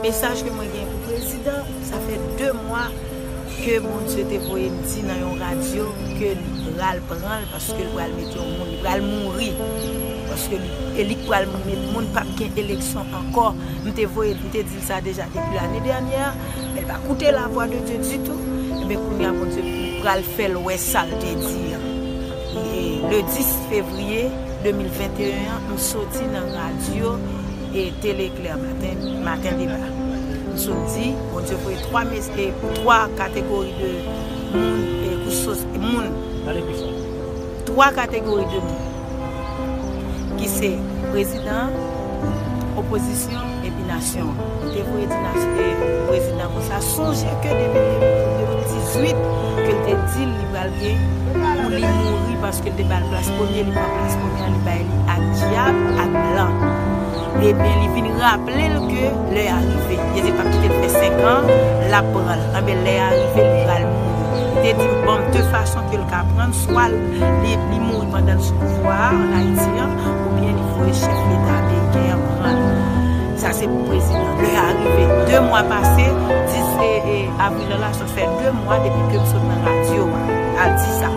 Mesaj ke mwen gen pou prezidan, sa fè 2 mwa ke Bondye te voye m di nan yon radyo ke li pral pran l paske l pral met yon moun, li pral mouri paske li e li k pral met moun pap gen eleksyon ankò, m te voye m te di l sa deja depi lane dènyè a men l pa koute la vwa de Dye ditou enben kounye a Bondye pral fè l wè sa l te di an le 10 fevriye 2021 an m soti nan radyo. e tele eclair maten maten deba m sot di bondye voye 3 mes e 3 kategori de moun e kouch sos moun pale pi fò 3 kategori de moun ki se prezidan opozisyon epi nasyon an m te voye di nasyon e prezidan konsa sonje ke depi 2018 ke l te di li pral gen pou li mouri paske. Paske l te ba l plas premye, li pran plas premye an li bay li ak dyab, ak blan. Ebyen li vin raple l ke lè a rive. Jezi pa p kite l fè senkan, l ap pran l. Anben lè a rive li pral mouri. Li te di m ban m de fason ke l ka pran l, swa li mouri pandan l sou pouvwa a an Ayiti an, oubyen li voye chèf leta ameriken an pran l. Sa se pou prezidan. Lè a rive. De mwa pase, 10 avril an la. fè 2 mwa depi kem sot nan radio a al di sa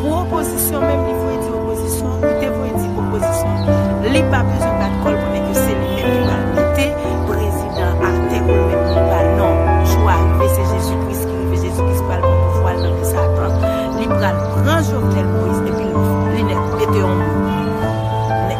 pou opozisyon menm li voye di opozisyon li te voye di opozisyon li pa bezwen bat kòl konnen ke se li menm ki pral mete prezidan atè poul met moun pa non jou a rive se jezi kris ki rive jezi kris pral pran pouvwal nan men satan li pral pran jovenel moïse epil li nèt mete yon moun nèt.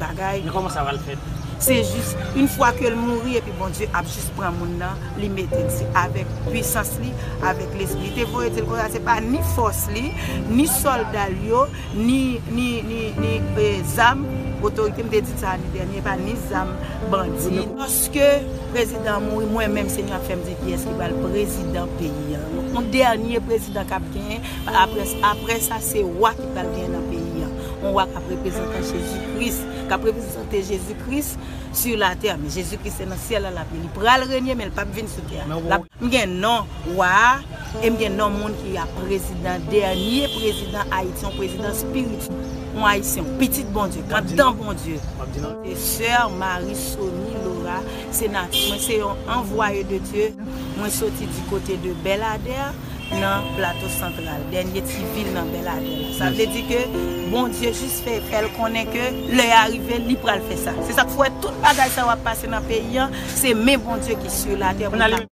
bagay. Men koman sa pral fèt? Se jis yn fwa kel mouri epi Bondye ap jis pran moun nan li mete di avèk pwisans li avèk lespri li te voye dil konsa se pa ni fòs li ni soldal yo ni ni ni ni e zam otorite mte di sa ane dènye epa ni zam bandi yo. Paske prezidan an mouri mwen menm se nou ap fèm di kiyès ki pral prezidan peyi an yon dènye prezidan kap genyen aprè aprè sa se wa ki pral genyen nan peyi an. yon wa kap reprezantan Jezi Kris, kap reprezante Jezi Kris sur la tè, men Jezi Kris se nan syèl la lap ye, li pral renye men li pap vin sou tè a. M gen non wa a, e m gen non moun ki ap prezidan, dènye prezidan Ayiti, yon prezidan spirityèl, yon Ayisyen, yon pitit Bondye, kandidan Bondye. Sè Marie Sony Laura, se natif, mwen se yon anvwaye de Dye, mwen soti di kote de Belladère. nan Plato Santral, dènye ti vil nan Bèladè la. Sa vle di ke Bondye jis fè fè l konnen ke lè a rive li pral fè sa. Se sa k fè w wè tout bagay sa yo ap pase nan peyi an, se men Bondye ki su latè pou l ka.